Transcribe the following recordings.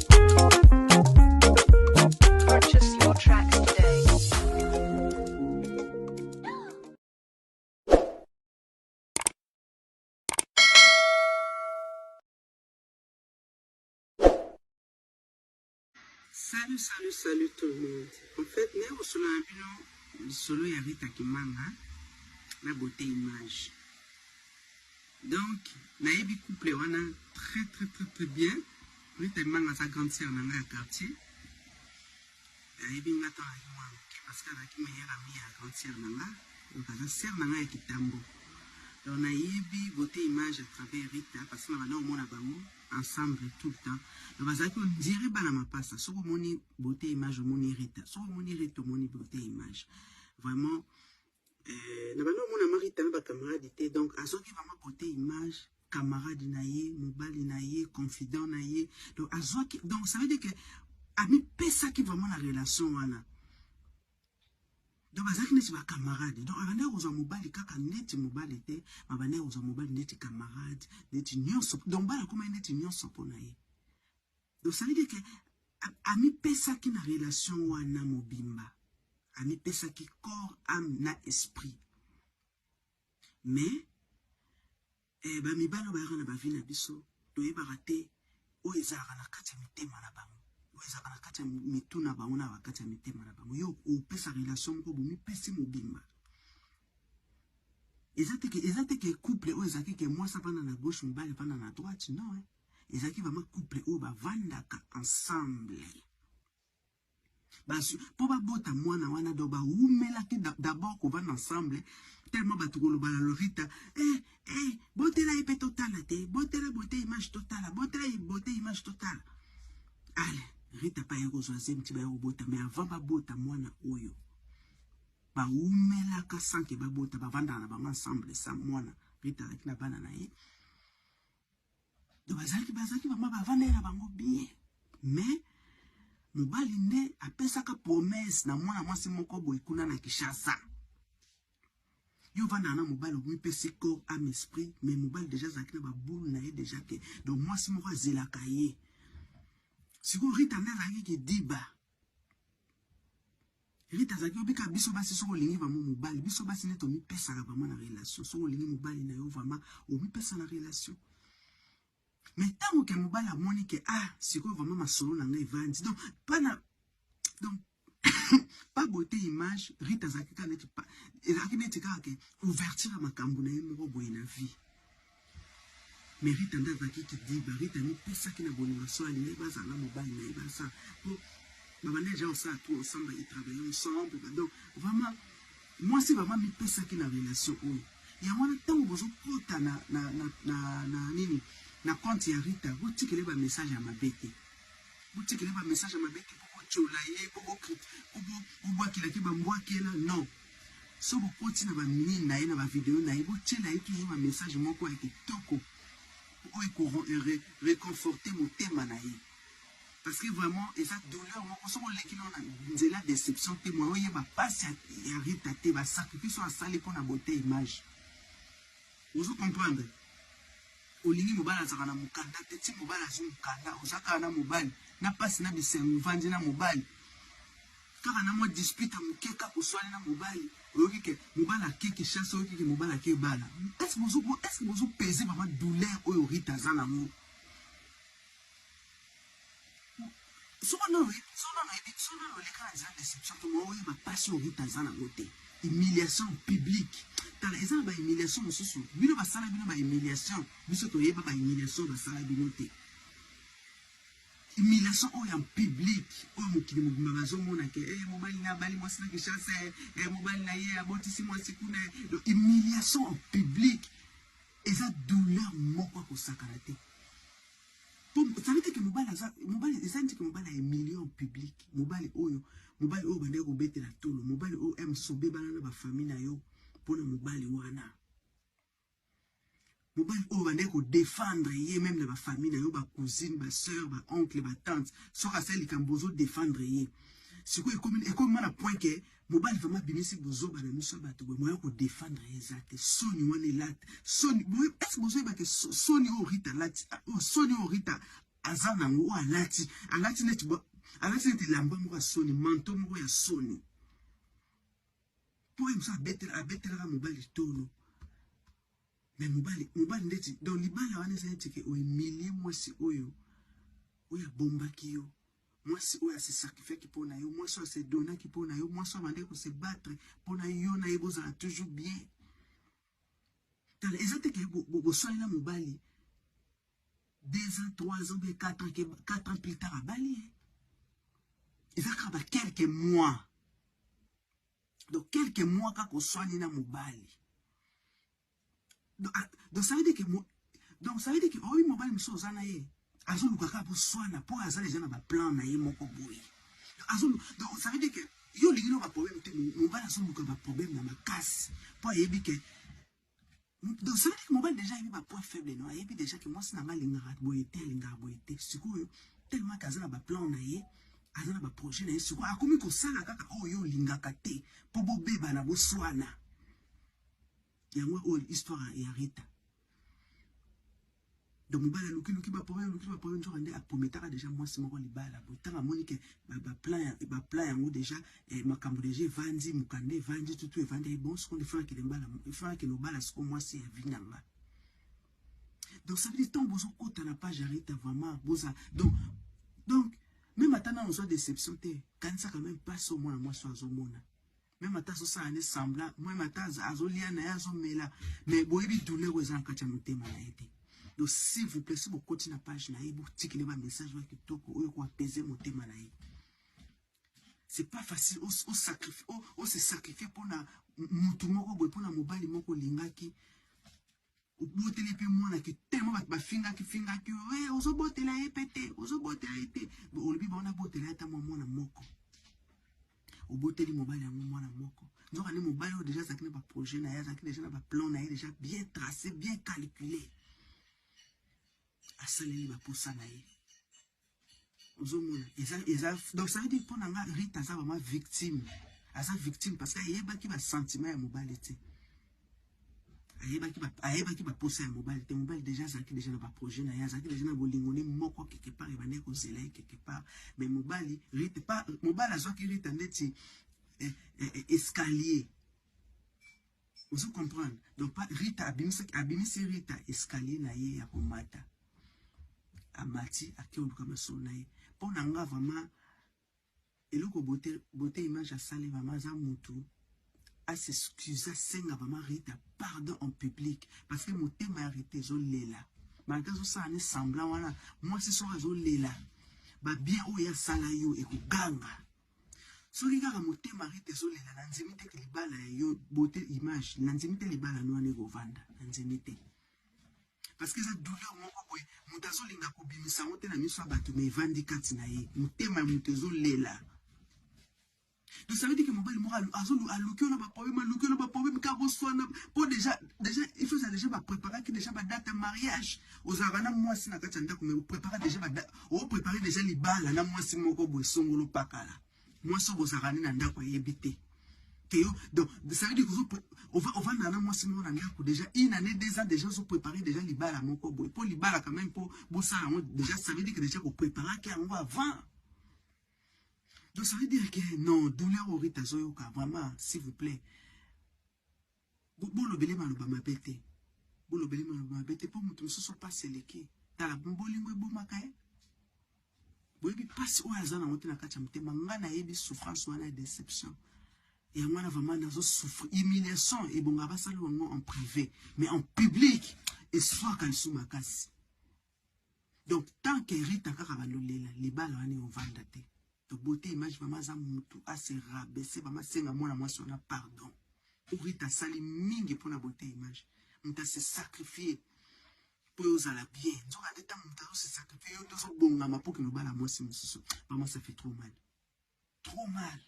Salut, salut, salut tout le monde. En fait, nous avons solo na bino lisolo ya Rita Kimanga na beauté image. Donc nayebi couple wana très très très très bien. Rita Emanga aza grande sœur na ngai ya quartier. Ayebi nga to ayebi mwa moke parce que azalaki meilleure amie ya grande sœur na nga. Donc aza sœur na ngai ya kitambo. Donc nayebi beauté image à travers Rita parce que na banda komona bango ensemble tout le temps. Donc bazalaki ondire bana mapasa soki omoni beauté image omoni Rita. Soki omoni Rita omoni beauté image. Vraiment Euh, na banda omona mari tanga ba camarade te donc azoki vraiment bote image camarade na ye mobali na ye confident na ye donc azwaki donc ça veut dire que amipesaki vraiment na relation wana donc bazalaki neti bacamarade donc abandaki kozwa mobali kaka neti mobali te abandaki kozwa mobali neti camarade neti nyonso donc bana akomaki neti nyonso mpo na ye Donc ça veut dire que amipesaki na relation wana mobimba, amipesaki corps, âme na esprit. Mais eh, bamibali oyo bayaka na bavi na biso toyebaka te oyo ezalaka na kati ya mitema na bango oyo ezalaka na kati ya mitu na bango na bakati ya mitema na bango yo opesa relation moko bomipesi mobimba eza teke eza teke couple oyo ezalaki ke mwasi apanda na gauche mobali apanda na droite non eh? ezalaki vraiment couple oyo bavandaka ensemble mpo babota mwana wana donc bawumelaki d'abord kovanda ensemble tellement bato koloba na lorita eh, eh, botela ye mpe totala te botela bote image totala botela ye bote image totala ale rita mpe aye kozwa zemi ti baye kobota mais avant babota mwana oyo bawumelaka sanke babota bavandaka na bango ensemble sa mwana rita alaki na bana na ye donc bazalaki bazalaki mama bavandaki na bango bien mais mobali nde apesaka promese na mwana mwasi moko boye kuna na kishasa yo vandaka na mobali omipesi corps ame esprit mais mobali deja azalaki na baboule na ye deja ke donc mwasi moko azelaka ye sikoyo rita nde azalaki kidiba Rita azalaki obika biso basi soki olingi vraiment mobali biso basi nde tomipesaka vraiment na relation soki olingi mobali na yo vraiment omipesa na relation mais ntango ke mobali amoni ke ah sikoyo vraiment masolo na ngai evandi donc pana donc pas beauté image Rita azalaki kaka neti ezalaki neti kaka ke ouverture ya makambo na ye moko boye na vie mais Rita nde azalaki kidiba Rita amipesaki na bolingo so alingi bazala na mobali na ye basa po babanda deja kosala tout ensemble baetravaille ensemble badon vraiment mwasi vraiment amipesaki na relation oyo yango wana ntango bozokota na, na, na, na, na nini na compte ya Rita botikele ba message ya mabe te botikele ba message ya mabe te po botyola ye po bobwakela te bambwakela non Soki bokoti na ba mine na ye na ba video na ye botiela ye toujours ba message moko ya kitoko oyo eko reconforter motema na ye parce que vraiment eza douleur moko soki oleki no na nzela deception te moye oyeba pasi ya Rita te ba sacrifice oyo asali mpo na beauté image ozo comprendre olingi mobali azalaka na mokanda te ti mobali azwi mokanda ozakaka na mobali na pasi na bisengo ovandi na mobali Kaka na mwa dispute ya moke, kaka oswani na mobali, oyoki ke mobali ake Kinshasa, oyoki ke mobali ake ebala. Est-ce que bozo, est-ce que bozo peser vraiment douleur oyo Rita aza na yango? Soki nanu oyebi, soki nanu oyebi, soki nanu oleka na nzela deception te, mais oyeba pasi oyo Rita aza na yango te. Humiliation publique. Tala, eza na ba humiliation mosusu. Bino basala bino ba humiliation, biso toyeba ba humiliation basala bino te. Humiliation oyo en public oyo mokili mobimba bazo mona ke eh mobali na abali mwasi na Kinshasa eh mobali na ye abotisi mwasi kuna donc humiliation en public eza douleur moko ya kosakana te ça veut dire que mobali aza mobali eza neti ke mobali ahumilie en public mobali oyo mobali oyo bandaki kobetela tolo mobali oyo msobe bana na bafamille na yo mpo na mobali wana Mobali oyo bande ko defendre ye meme na ba famille na yo ba cousine ba sœur ba oncle ba tante soki asali likambo ozo defendre ye sikoyo ekomi ekomi na point ke mobali vraiment abimisi bozoba na miso ya bato boye moya ko defendre ye eza te soni wana elati soni boye esi bozoyeba ke soni oyo rita alati oyo soni oyo rita aza nango oyo alati alati neti alati neti elamba moko ya soni manto moko ya soni Toi musa abetela abetelaka mobali tolo. Mais mobali mobali ndeti donc libala wana eza neti ke oemilie mwasi oyo oyo abombaki yo mwasi oyo ase sacrifiaki mpo na yo mwasi oyo ase donaki mpo na yo mwasi oyo abandaki kose battre mpo na yo na ye bozala toujours bien Tala eza te ke boswani na mobali 2 ans 3 ans bien 4 ans ke 4 ans plus tard abali hein. Eza kaka ba quelques mois. Donc quelques mois kaka oswani na mobali. Donc, ah, donc ça veut dire que donc ça veut dire que oyi oh mobali mosusu oza na ye azoluka kaka boswana mpo aza deja na baplan na ye moko boye donc ça veut dire que yo olingi no baproblème te mobali azoluka baproblème na makasi mpo ayebi ke donc ça veut dire que mobali deja ayebi bapoint faible no ayebi deja ke mwasi na ngai alingaka boye te alingaka boye te sikoyo tellement ke aza na baplan na ye aza na baprojet na ye sikoyo akomi kosala kaka oyo oh, yo olingaka te mpo bobebana boswana yango oyo oh, histoire ya rita donc mobali alukiluki baproblème aluki baproblème nzoka nde aprometaka déjà mwasi moko libala boye ntango amoni ke baplan yango déjà eh, makambo déjà evandi mokanda evandi tutu evandi ye eh, bon sikoyo efakende lobala sikoyo mwasi ya vi nanga donc ça veut dire ntango bozokota na page arita vraiment boza donc donc meme ata nano ozwa déception te kanisaka meme mpasi omwana mwasi azomona Meme ata azosala ne sembla meme ata azolia na ye azomela mais boyebi douleur oyo eza na kati ya motema na ye te donc s'il vous plaît si bokoti na page na ye botikele bamessage oyo kitoko oyo koapese motema na ye c'est pas facile o se sacrifier mpona mutu moko boye mpona mobali moko olingaki oboteli mpe mwana ke tellement bato bafingaki fingaki yo hey, eh, ozobotela ye mpe te ozobotela ye te olobi bango nabotela ye ata mwa mwana moko oboteli mobali yango mwana moko nzoka nde mobali oyo deja azalaki na baprojet na ye azalaki deja na baplan na ye deja bien trace bien calcule asaleli baposa na ye ozomona eza eza donc ça veut dire mpo na nga rite aza vraiment victime aza victime parce que ayebaki basentiment ya mobali te ayebaki baposa ya mobali te mobali deja azalaki deja na baprojet na ye azalaki deja na bolingo ne moko quelque part ebandaki kozela ye quelque part mais mobali rite pa mobali azwaki rite ndeti eh, eh, eh, escalier Ozo comprendre? Donc pas Rita abimisi abimisi Rita escalier na ye ya komata. Amati ake oluka masolo na ye. Mpo na nga vraiment eloko bote bote image asali vraiment aza mutu a s'excuse asenga vraiment Rita pardon en public parce que motema ya Rita ezolela malgré azosala ne semblant wana mwasi soko azolela babien oyo asala yo ekoganga Soki kaka motema rite ezolela na nzemi te ke libala ya yo beauté image na nzemi te libala no wana ekovanda na nzemi te parce que eza douleur moko boye moto azolinga kobimisa yango te na miso ya bato mais evandi kati na ye motema ya moto ezolela donc ça veut dire que mobali moko aluki ona baproblème aluki ona baproblème kaka boswana mpo déjà déjà il faut eza déjà bapreparaki déjà badate ya mariage ozalaka na mwasi na kati ya ndako mais opreparaka déjà o prepare deja libala na mwasi moko boye songolo pakala mwasi oyo bozalaka nde na ndako ayebi te te yo donc ça veut dire que ovanda na mwasi moko na ndako deja une année deux ans deja ozo prepare deja libala moko boye mpo libala quand même mpo bosala yango deja ça veut dire que deja kopreparaki yango avant donc ça veut dire que non douleur orite azoyoka vraiment s'il vous plaît bolobele maloba mabe te bolobele maloba mabe te mpo moto mosusu mpasi eleki tala bolingo ebomaka ye boyebi mpasi oyo aza nango te na kati ya motema nga nayebi souffrance wana ya déception yango wana vraiment nazo souffre humiliation ebonga basala yango en privé mais en public eswaka lisu makasi Donc tant que Rita kaka balolela libala wana ovanda te. To beauté image mama aza mutu a se rabaisser mama senga mwana mwasi wana pardon. Pour Rita sali mingi pona beauté image. Muta se sacrifier pour ozala bien. Nzoka ndeta muta se sacrifier yo ndozo bongama pour que lobala mwasi mususu. Mama ça fait trop mal. trop mal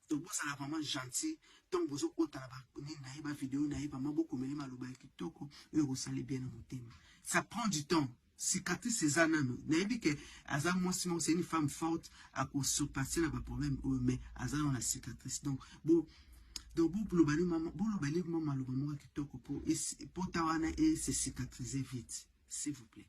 donc bozala vraiment gentil ntango bozokota na banini na ye bavideo na ye vraiment bokomeli maloba ya kitoko oyo ekosali bien na motema ça prend du temps cicatrice eza nano nayebi ke aza mwasi moko c'est une femme forte akosurpasse na baproblème oyo mais aza nano na cicatrice donc bo donc boloba nde mwa maloba moko ya kitoko mpo ta wana e se cicatriser vite s'il vous plaît